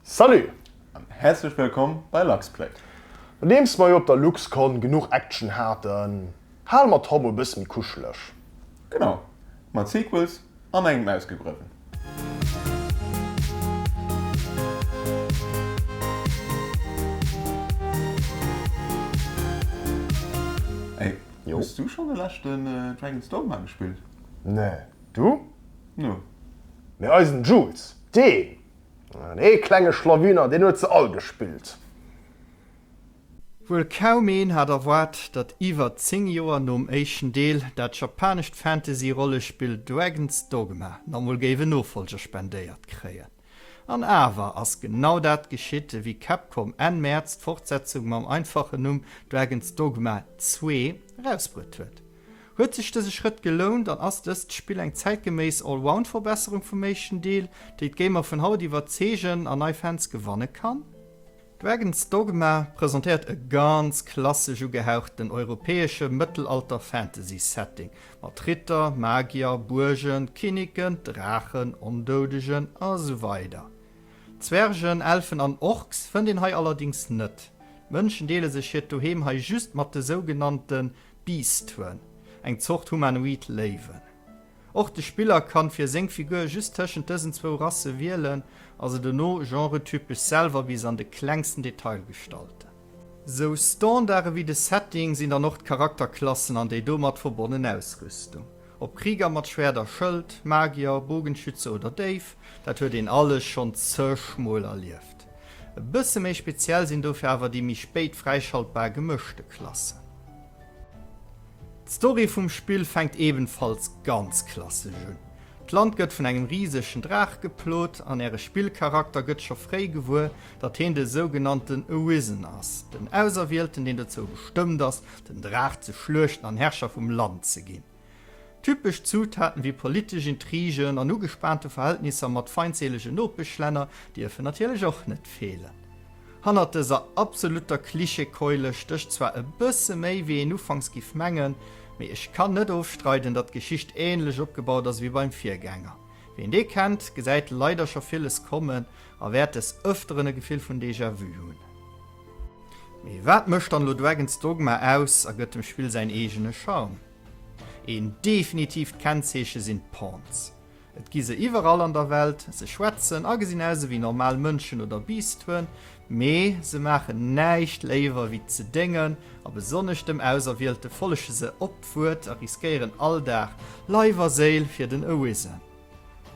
Salut an häerzlech wëllkomm bei LuxPlay. Nodeems mer jo op der LuxCon genuch Action haten, hale mer d'Hall mol bësse méi kuscheleg. Genau, mat Sequels an engem ausgegröwen. Ey, hues du schonn de leschten Dragon's Dogma gespillt? Nee, du? No. Mee eisen Jules! Dee ee klenge Schlawiner, deen huet se all gespillt. Wuel kaum een hat erwaart, datt iwwer 10 Joer nom éischten Deel dat japanescht Fantasy-Rollespill Dragon's Dogma nach mol géif en Nofolger spendéiert kréien. An awer ass genau dat geschitt, ewéi Capcom Enn Mäerz d'Fortsetzung mam einfachen Numm Dragon's Dogma 2 erausbruet huet. Huet sech dëse Schrëtt gelount an ass dëst Spill eng zäitgeméiss Allround-Verbesserung vum éischten Deel, déi d'Gamer vun haut iwwerzeegen an nei Fans gewanne kann? Dragon's Dogma presentéiert e ganz klassesch ugehauchten europäesche Mëttelalter-Fantasy-Setting mat Ritter, Magier, Buergen, Kinniken, Draachen, Ondoudegen a sou weider. Zwergen, Elfen an Orks fënnt een hei allerdings net. D'Mënschen deele sech hiert Doheem hei just mat de sougenannte. Beastwen, eng Zort humanoid Léiwen. Och de Spiller kann fir séng Figur just tëschent dësen zwou Rasse wielen a se dono genretypesch selwer bis an de klengsten Detail gestalten. Sou Standarde wéi de Setting sinn dann och d'Charakterklassen an déi domat verbonnen Ausrüstung. Ob Krieger mat Schwert a Schëld, Magier, Bogenschütze oder Déif, dat huet een alles schonn zeg mol erlieft. E bësse méi speziell sinn dofir awer déi méi spéit fräischaltbar gemëschte Klassen. D'Story vum Spill fänkt ebenfalls ganz klassesch un. D'Land gëtt vun engem risegen Draach geplot an äre Spillcharakter gëtt scho fréi gewuer, datt heen de sougenannten Arisen ass, den Auserwielten, deen dozou bestëmmt ass, den Draach ze schluechten an Herrscher vum Land ze ginn. Typesch Zutaten wéi politesch Intrigen an ugespaante Verhältnisser mat feindseelege Nopeschlänner dierfen natierlech och net feelen. Hannert dëser absolutter Klischeekeule stécht zwar e bësse méi, wéi een ufanks giff mengen, mee ech kann net ofstreiden, datt d'Geschicht änlech opgebaut ass wéi beim Virgänger. Ween dee kennt, gesäit leider scho villes kommen a wäert des Ëfteren e Gefill vun Déjà-vu hunn. Mee wat mécht dann elo Dragon 's Dogma aus a gëtt dem Spill säin eegene Charme? Een definitiivt Kennzeeche sinn d'Pawns. Et gi se iwwerall an der Welt, se schwätzen a gesinn aus ewéi normal Mënschen oder Biisdwen, mee se maachen näischt léiwer ewéi ze déngen a besonnesch dem Auserwielte follege se op d'Wuert a riskéieren all Dag Leif a Séil fir den Arisen.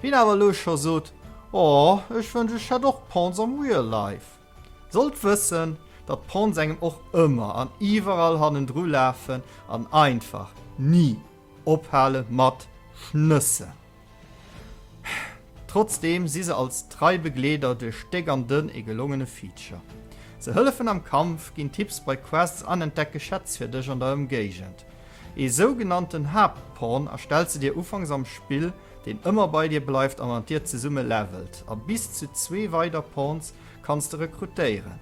Wien awer elo scho sot, Oh, ech wënsch ech hätt och Pawns am Real Life! Sollt wëssen, datt d'Ponts engem och ëmmer an iwwerall hannendru lafen an einfach ni ophale mat schnëssen. Trotzdeem si se als trei Begleeder duerch déck an dënn e gelongene Feature. Se hëllefen am Kampf, ginn Tipps bei Quests an entdecke Schätz fir dech an der Ëmgéigend. Ee sougenannten Haaptpont erstellt se dir ufanks am Spill, deen ëmmer bei dir bleift a mat dir zesumme levelt, a bis zu zwee weider Pawns kanns de rekrutéieren.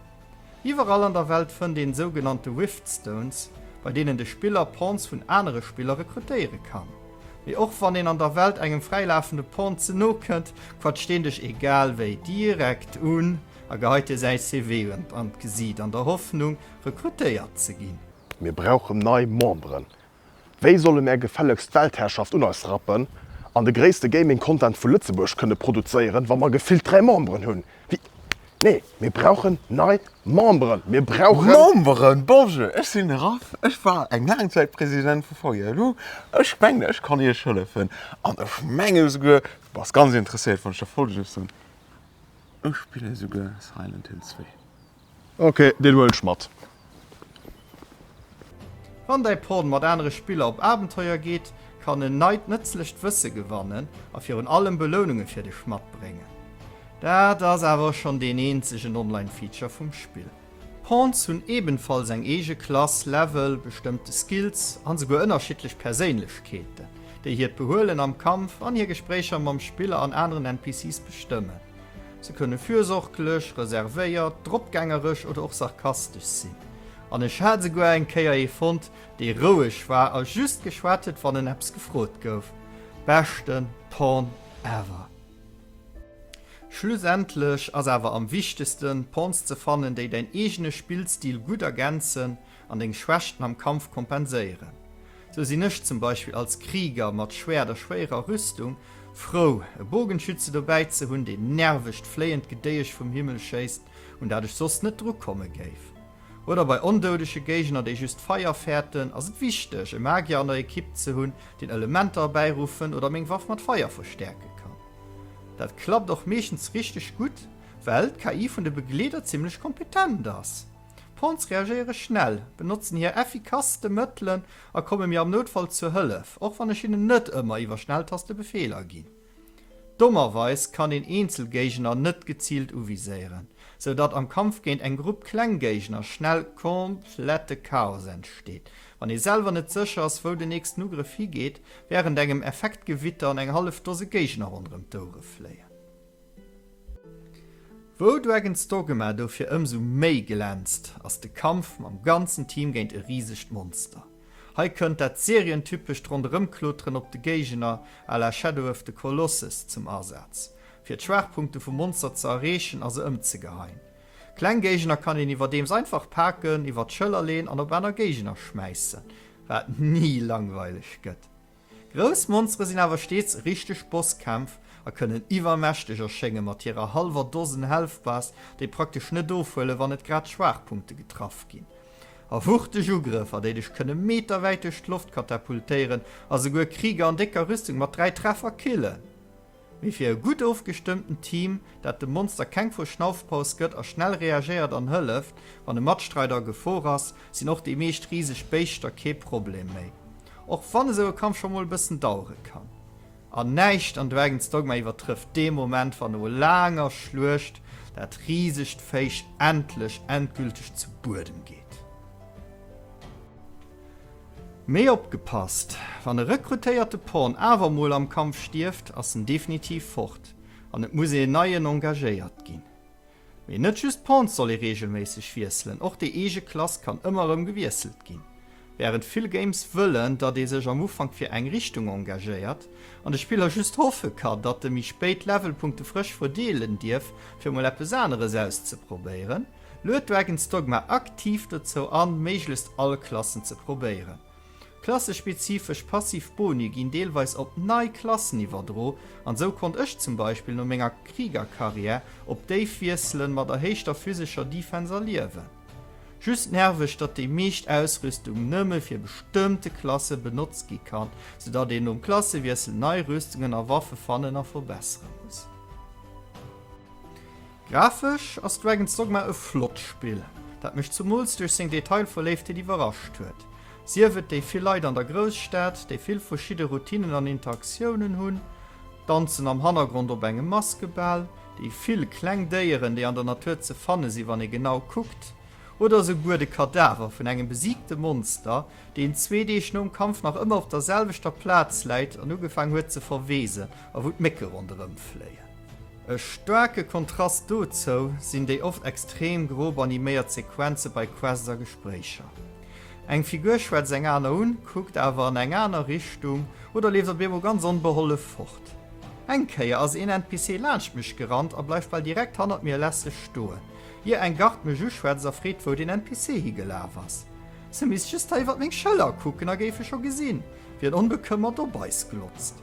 Iwwerall an der Welt fënnt een sougenannte Riftstones, bei deenen de Spiller Pawns vun anere Spiller rekrutéiere kann. Mee och wann een an der Welt engem fräilafende Pawn ze no kënnt, quatscht deen dech egal wéi direkt un a geheit dir säi CV an d'Gesiit, an der Hoffnung, rekrutéiert ze ginn. Mir brauchen nei Memberen, Wéi solle mär gefällegst d'Weltherrschaft un eis rappen an de gréisste Gaming Content vu Lëtzebuerg kënne produzéieren, wa mer gefillt 3 Memberen hunn? Wéi? Nee, mir brauchen nei Memberen! Mir brauchen. Memberen! Bonjour, ech sinn de Raph, ech war eng laang Zäit President vu VILU. Ech mengen, ech kann iech hëllefen. An ech menge esouguer, du bass ganz interesséiert, wann ech der folge soen, ech spillen esouguer Silent Hill 2. Ok, deen huel ech mat. Wann däi Pon mat anere Spiller op Abenteuer geet, kann en neit nëtzlecht Wësse gewannen a virun allem Beloununge fir dech matbréngen. Dat ass awer och schonn deen eenzegen Online-Feature vum Spill. D'Pons hunn ebenfalls eng eege Klass, Level, bestëmmte Skills an esouguer ënnerschiddlech Perséinlechkeeten, déi hiert Behuelen am Kampf an hir Gespréicher mam Spiller an aneren NPCs bestëmmen. Se kënne fürsorglech, reservéiert, dropgängerech oder och sarkastesch sinn. An ech hat esouguer eng Kéier ee fonnt, dee roueg war a just geschwat huet, wann en eppes gefrot gouf. Beschten Pon ever! Schlussendlech ass awer am wichtegsten, Pons ze fannen, déi däin eegene Spillstil gutt ergänzen an deng Schwächten am Kampf kompenséieren. Sou sinn ech zum Beispill als Krieger mat Schwäert a schwéierer Rüstung frou, e Bogenschütze dobäi ze hunn, deen nervegt fléiend Gedéiesch vum Himmel schéisst, un dat ech soss net drukomme géif. Oder bei ondoudege Géigner, déi just Feier fäerten, ass et wichteg, e Magier an der Ekipp ze hunn, deen Elementer erbäiruffen oder meng Waff mat Feier verstäerke kann. Dat klappt och meeschtens richteg gutt, well d'KI vun de Begleeder zimmlech kompetent ass. D'Ponts reagéiere schnell, benotzen hir effikasste Mëttelen a komme mir am Noutfall zur Hëllef, och wann ech hinnen net ëmmer iwwer Schnelltaste Befeeler ginn. Dommerweis kann een eenzel Géigner net geziilt uviséieren, sou datt am Kampf géint eng Grupp kleng Géigner schnell komplette Chaos entsteet, wann ee selwer net sécher ass, wou den nächsten Ugrëff higeet, wärend engem Effektgewitter an eng hallef Dose Géigner ronderëm d'Oure fléien. Wou Dragon's Dogma dofir ëmsou méi glänzt, ass de Kampf mam ganzen Team géint e risegt Monster. Hei kënnt dat serientypescht Ronderëmkloteren op de Géigner à la Shadow of the Colossus zum Asaz, fir d'Schwaachpunkte vum Monster ze erreechen a se ëmzegeheien. Kleng Géigner kann een iwwerdeems einfach paken, iwwer d'Schëller leen an op aner Géigner schmäissen, wat ni langweileg gëtt. Grouss Monstere sinn awer steets richteg Bosskämpf a kënnen iwwermächteg erschénge mat hirer hallwer Dosen Health Bars, déi praktesch net ofhuelen, wann net grad d'Schwaachpunkte getraff ginn. A wuchteg Ugrëffer, déi dech kënne meterwäit duerch d'Loft katapultéieren a souguer Krieger an décker Rüstung mat dräi Treffer killen. mee fir e gutt ofgestëmmten Team, dat dem Monster keng Verschnaufpaus gëtt a schnell reagéiert an hëlleft, wann e Matstreider a Gefor ass, sinn och déi meescht riseg Béischter kee Problem méi. Och wann esou e Kampf scho mol e bëssen dauere kann. An näischt an Dragon's Dogma iwwertrëfft dee Moment, wann no laanger Schluecht dat risegt Véich endlech endgülteg zu Buedem geet. Mee opgepasst, wann e rekrutéierte Pawn awer mol am Kampf stierft, ass en definitiv fort an et muss een neien engagéiert ginn. Mee net just d'Pawns soll ee reegelméisseg wiesselen, och déi eege Klass kann ëmmer erëm gewiesselt ginn. Wärend vill Games wëllen, datt ee sech am Ufank fir eng Richtung engagéiert an de Spiller just hoffe kann, datt e méi spéit Levelpunkte frësch verdeelen dierf, fir mol eppes aneres auszeprobéieren, Lued Dragon's Dogma aktiv dozou an, méiglechst all Klassen ze probéieren. Klassespezifesch passiv Boni ginn deelweis op nei Klassen iwwerdro, an esou konnt ech zum Beispill no menger Kriegerkarriär op déif wiesselen, mat erhéichter physescher Defense a Liewen. Just nerveg, datt déi meescht Ausrüstung nëmme fir bestëmmte Klasse benotzt gi kann, sou datt een nom Klassewiessel nei Rüstungen a Waffe fannen a verbessere muss. Grafesch ass Dragon's Dogma e flott Spill, dat mech zumools duerch seng Detailverléiftheet iwwerrascht huet. Sief et déi vill Leit an der Grousstad, déi vill verschidde Routinnen an Interaktiounen hunn, d'Danzen am Hannergrond op engem Maskebal, déi vill kleng Déieren, déi an der Natur ze fanne si wann ee genau kuckt, oder esouguer de Kadaver vun engem besiigte Monster, deen zwee Deeg nom Kampf nach ëmmer op der selwechter Plaz läit an ugefaang huet ze verweesen a wou d'Mécke ronderëmfléien. E staarke Kontrast dozou sinn déi oft extrem grob animéiert Sequenze bei Quests a Gespréicher. Eng Figur schwätzt eng aner un, kuckt awer an eng aner Richtung oder leeft op eemol ganz onbehollef fort. Eng Kéier ass een NPC laanscht mech gerannt a bleift bal direkt hannert mir lässeg stoen, ier eng Gard mech uschwätzt a freet, wou den NPC higelaf ass. Se misst just hei iwwert meng Schëller kucken a géif e scho gesinn, wéi en onbekëmmert op eis glotzt.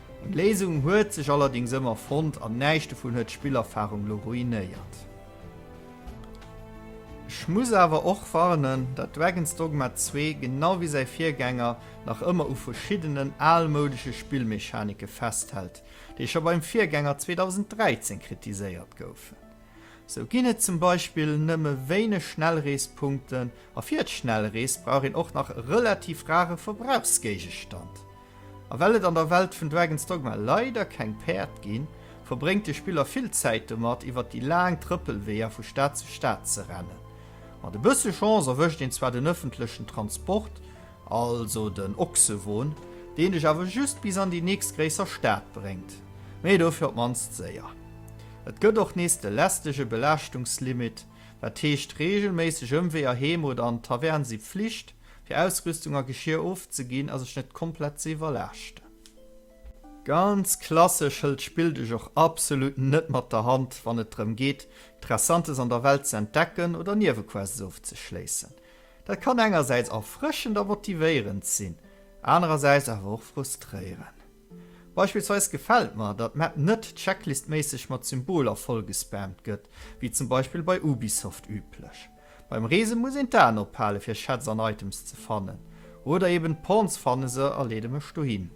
Eng Léisung huet sech allerdings ëmmer fonnt an näischt dovun huet d'Spillerfahrung lo ruinéiert. Ech muss awer och warnen, dat Dragon's Dogma 2, genau wéi säi Virgänger, nach ëmmer u verschiddenen almoudesche Spillmechanike festhält, déi scho beim Virgänger 2013 kritiséiert goufen. Sou ginn et zum Beispill nëmme wéineg Schnellreespunkten a fir d'Schnellrees brauch een och nach e relativ rare Verbrauchsgéigestand, A well et an der Welt vun Dragon's Dogma leider keng Päerd ginn, verbréngt de Spiller vill Zäit domat, iwwert déi laang Trëppelweeër vu Stad zu Stad ze rennen. Mat e bësse Chance erwëscht een zwar den ëffentlechen Transport, also den Ochsewon, deen dech awer just bis an déi nächst gréisser Stad bréngt, mee dofir op d'mannst séier. Et gëtt och nees de lästege Belaaschtungslimit, wat heescht, reegelméisseg Ëmweeër heem oder an d'Tavern si Pflicht. Fir Ausrüstung a Geschir ofzeginn a sech net komplett ze iwwerlaaschten. Ganz klassesch hëlt d'Spill dech och absolut net mat der Hand, wann et drëm geet, Interessantes an der Welt ze entdecken oder Niewequests ofzeschléissen. Dat kann engersäits erfrëschend a motivéierend sinn, anerersäits awer och frustréieren. Beispillsweis gefält mer, datt d'Map net checklistméisseg mat Symboler vollgespammt gëtt, wéi zum Beispill bei Ubisoft üblech. Beim Reese muss een d'Aen ophale fir Schätz an Items ze fannen. Oder eben d'Pawns fanne se a leede mech dohin.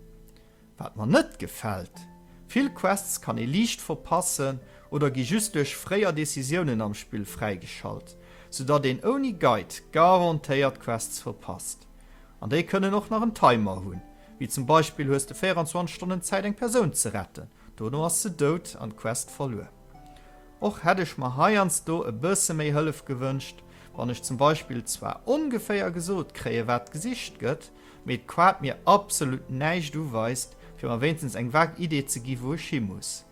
Wat mer net gefält, vill Quests kann ee liicht verpassen oder gi just duerch fréier Decisiounen am Spill fräigeschalt, sou datt een ouni Guide garantéiert Quests verpasst. An déi kënnen och nach en Timer hunn, wéi zum Beispill hues de 24 Stonnen Zäit eng Persoun ze retten, dono ass se dout an d'Quest verluer. Och hätt ech mer heiansdo e bësse méi Hëllef gewënscht, wann ech zum Beispill zwar ongeféier gesot kréie wat gesicht gëtt, mee d'Quart mir absolut näischt uweist, fir mer wéinstens eng vag Idee ze gi wou ech hi muss.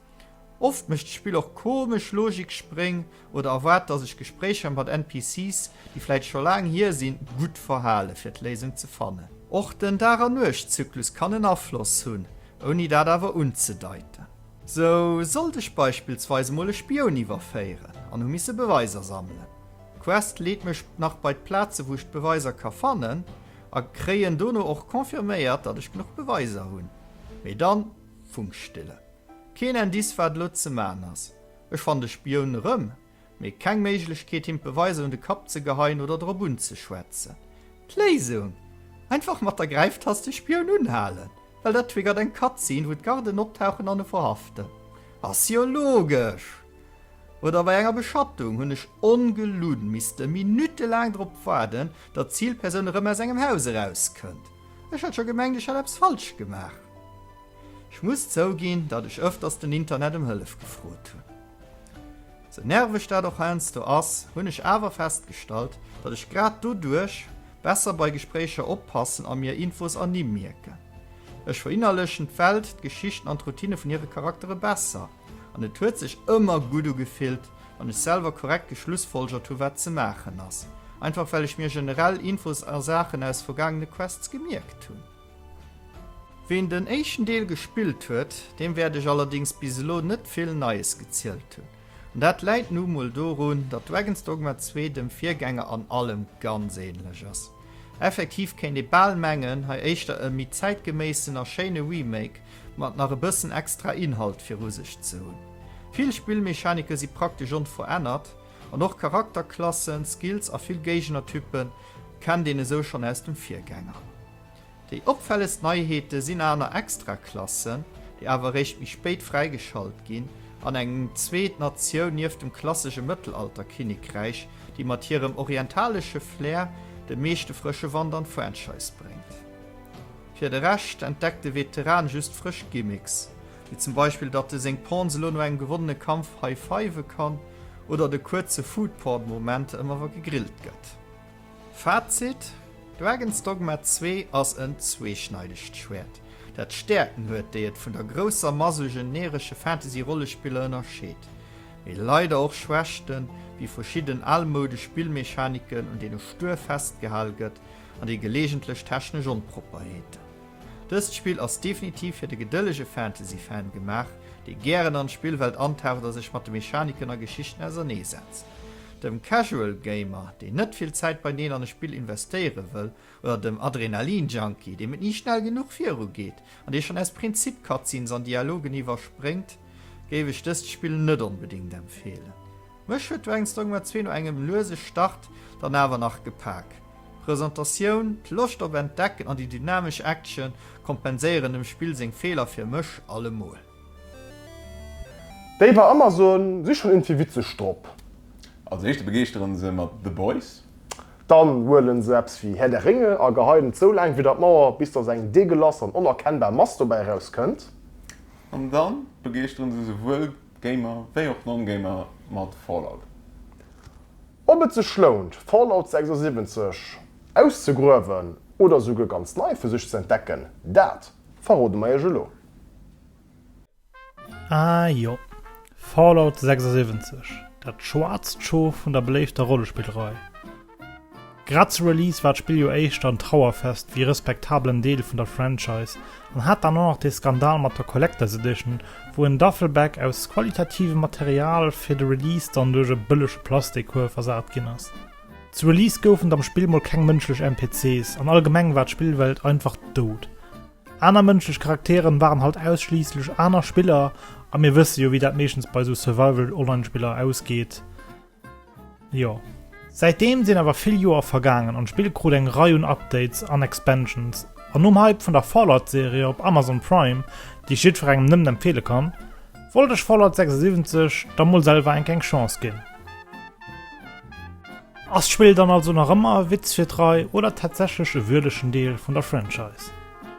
Oft mécht d'Spill och komesch Logikspréng oder erwaart dass ech Gespréicher mat NPCs, déi vläit scho laang hier sinn, gutt verhale fir d'Léisung ze fannen. Och den Dag-a-Nuecht-Zyklus kann en Afloss hunn, ouni dat awer unzedeiten. Sou sollt ech beispillsweis emol e Spioun iwwerféieren an hu misse Beweiser sammelen. D'Quest leet mech nach bei d'Plaze wou ech d'Beweiser ka fannen a kréien dono och confirméiert dat ech genuch Beweiser hunn. Mee dann Funkstille. Keen Indice wat elo ze man ass. Ech fannen de Spioun erëm mee keng Méiglechkeet him d'Beweiser un de Kapp ze geheien oder drop unzeschwätzen. D'Léisung? Einfach mat der Gräiftast de Spioun unhalen, well dat triggert eng Cutscene wou d'Garden optauchen an e verhaften. Ass jo logesch! Oder bei enger Beschattung hunn ech ongelunn misste Minutte laang drop waarden, datt d'Zilpersoun erëm aus engem Haus eraus kënnt. Ech hätt scho gemengt ech hätt eppes falsch gemaach. Ech muss zouginn, datt ech ëfters den Internet em Hëllef gefrot hunn. Sou nerveg dat och heiansdo ass, hunn ech awer festgestallt, datt ech grad doduerch besser bei Gespréicher oppassen a mir Infos erni mierken. Ech verinnerlechen d'Welt, d'Geschichten an d'Routine vun hire Charaktere besser an et huet sech ëmmer gutt ugefillt, wann ech selwer korrekt geschlussfolgert hu wat ze maachen ass, einfach well ech mir generell Infos a Saachen aus vergaangene Quests gemierkt hunn. Ween den éischten Deel gespillt huet, deem wäert ech allerdings bis elo net vill Neies gezielt hunn. An dat läit nu mol dorun, datt Dragon's Dogma 2 dem Virgänger an allem ganz ähnlech ass. Effektiv kéint ee bal mengen, hei éischter e méi zäitgeméissen a schéine Remake mat nach e bëssen extra Inhalt viru sech ze hunn. Vill Spillmechanike si praktesch onverännert, An och Charakterklassen, Skills a vill Géignertypen kennt een esou schonn aus dem Virgänger. Déi opfällegst Neiheete sinn aner Extraklassen, déi awer eréischt méi spéit fräigeschalt ginn, an eng zweet Natioun nieft dem klassesche Mëttelalter-Kinnekräich, déi mat hirem orientalesche Flair de meeschte frësche Wand an d'Franchise bréngt. Fir de Rescht entdeckt de Veteran just frësch Gimmicks. wéi zum Beispill datt e seng Pawns elo no engem gewonnene Kampf high-five kann oder de kuerze Food-Porn-Moment ëmmer wa gegrillt gëtt. Fazit, Dragon 's Dogma 2 ass en zweeschneidegt Schwäert, dat Stäerken huet, déi et vun der grousser Mass u generesche Fantasy-Rollespiller ënnerscheet, mee leider och Schwächten, wéi verschidden almoudesch Spillmechaniken, un deene stuer festgehal gëtt, an déi geleegentlech technesch Onpropperheeten. Dëst Spill ass definitiv fir de gedëllege Fantasy-Fan gemaach, dee gären an d'Spillwelt antaucht a sech mat de Mechaniken a Geschichten ausernee setzt. Dem Casual Gamer, deen net vill Zäit bei Neen an e Spill investéiere wëll, oder dem Adrenalin Junkie, deem et ni schnell genuch viru geet an dee schonn aus Prinzip Cutscenes an Dialogen iwwerspréngt, géif ech dëst Spill net onbedéngt empfeelen. Mech huet Dragons Dogma zwee no engem luese Start dann awer nach gepak. Presentatioun, d'Loscht op Entdecken an déi dynamesch Action kompenséieren dem Spill seng Feeler fir mech allemol. Déi bei Amazon si schon irgendwie witzeg drop. Als éischte begeeschteren se mat The Boys. Dann huelen se eppes wéi Herr der Ringe a geheien et sou laang widdert d'Mauer, bis dass eng deegelass an onerkennbar Mass dobäi eraus kënnt. An dann begeeschteren se souwuel Gamer wéi och Non-Gamer mat Fallout. Ob et sech lount, Fallout 76 auszegruewen oder esouguer ganz nei fir sech ze entdecken, dat verrode mer iech elo. Ah jo, Fallout 76, dat schwaarzt Schoof vun der beléifter Rollespillrei. Grad zu Release war d'Spill jo éischter en Trauerfest wéi e respektabelen Deel vun der Franchise an hat dann och nach dee Skandal mat der Collectors Edition, wou en Duffelbag aus qualitativem Material fir de Release dann duerch e bëllege Plastikkuerf ersat ginn ass. Zu Release goufen et am Spill mol keng mënschlech NPCs an allgemeng war d'Spillwelt einfach dout. Aner mënschlech Charakteren waren halt ausschliisslech aner Spiller a mir wësse jo wéi dat meeschtens bei esou Survival-Online-Spiller ausgeet. Jo. Säitdeem sinn awer vill Joer vergaangen an d'Spill krut eng Rei un Updates an Expansions an nom Hype vun der Fallout Serie op Amazon Prime, déi ech jiddwerengem nëmmen empfeele kann, wollt ech Fallout 76 da mol selwer enk eng Chance ginn. Ass d'Spill dann also nach ëmmer e Witz fir d'Rei oder tatsächlech e würdegen Deel vun der Franchise?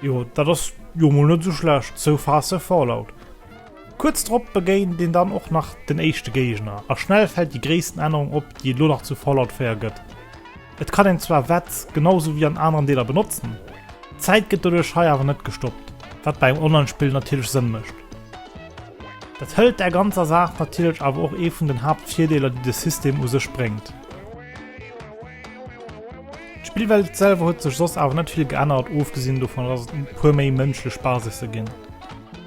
Jo, dat ass jo mol net sou schlecht, So fast a Fallout. Kuerz drop begéint een dann och nach den éischte Géigner, a schnell fält déi gréissten Ännerung op, déi et lo nach zu Fallout 4 gëtt. Et kann een zwar Wett genau sou wéi an aneren Deeler benotzen, d'Zäit gëtt doduerch hei awer net gestoppt, wat bei engem Online-Spill natierlech Sënn mécht. Dat hëlt där ganzer Saach natierlech awer och ee vun den Haaptvirdeeler, déi de System u sech bréngt. D'Spillwelt selwer huet sech soss awer net vill geännert, ofgesinn dovun dass et e puer méi mënschlech Basisse ginn.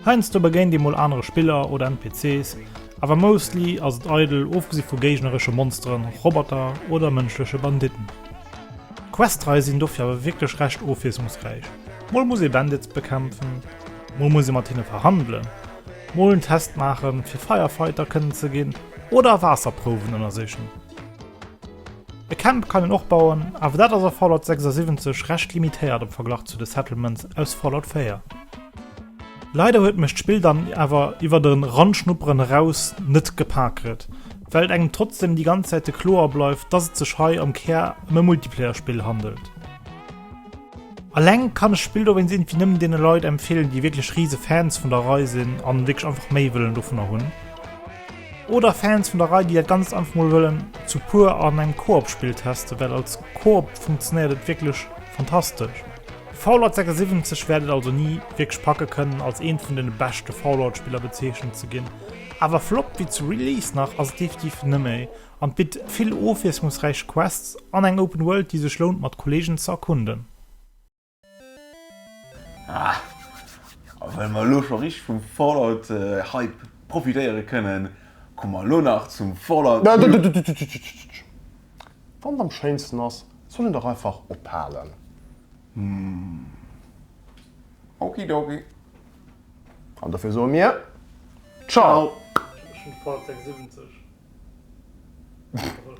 Heiansdo begéint ee mol anere Spiller oder NPCs, awer mostly ass et eidel, ofgesi vu géigneresche Monsteren, Roboter oder mënschleche Banditten. D'Questrei sinn dofir awer wierklech recht ofwiesslungsräich, mol muss ee Bandits bekämpfen, mol muss ee mat hinne verhandelen, mol en Test maachen fir Firefighter kënnen ze ginn oder Waasserprouwen ënnersichen. E Camp kann een och bauen, awer dat ass a Fallout 76 recht limitéiert am Verglach zu de Settlements aus Fallout 4. Leider huet mech d'Spill dann awer iwwert e Ranschnupperen eraus net gepaket, well et engem trotzdem déi ganz Zäite kloer bleift, dass et sech hei am Kär ëm e Multiplayer-Spill handelt. Alleng kann ech d'Spill dowéinst irgendwie nëmmen deene Leit empfeelen, déi wierklech rise Fans vun der Rei sinn an wierklech einfach méi wëllen dovunner hunn. Oder Fans vun der Rei déi et ganz einfach mol wëllen zu puer an engem Koop Spill testen, well als Koop funktionéiert et wierklech fantastesch. Fallout 76 wäert et also ni wierklech packe kënnen als eent vun den beschte Fallout Spiller bezeechent ze ginn, awer flott wéi zu Release nach ass et definitiv nëmméi an bitt vill ofwiesslungsräich Quests an eng Open World déi sech lount mat Kollegen ze erkunden. Ah! A well mer elo scho richteg vum Fallout Hype profitéiere kënnen, komme mer elo nach zum Fallout New Wann et am schéinsten ass, soll een dach einfach ophalen. Hum. Oki Doki. An dofir soe mir Ciao! Ech hunn de Fallout 76 geholl.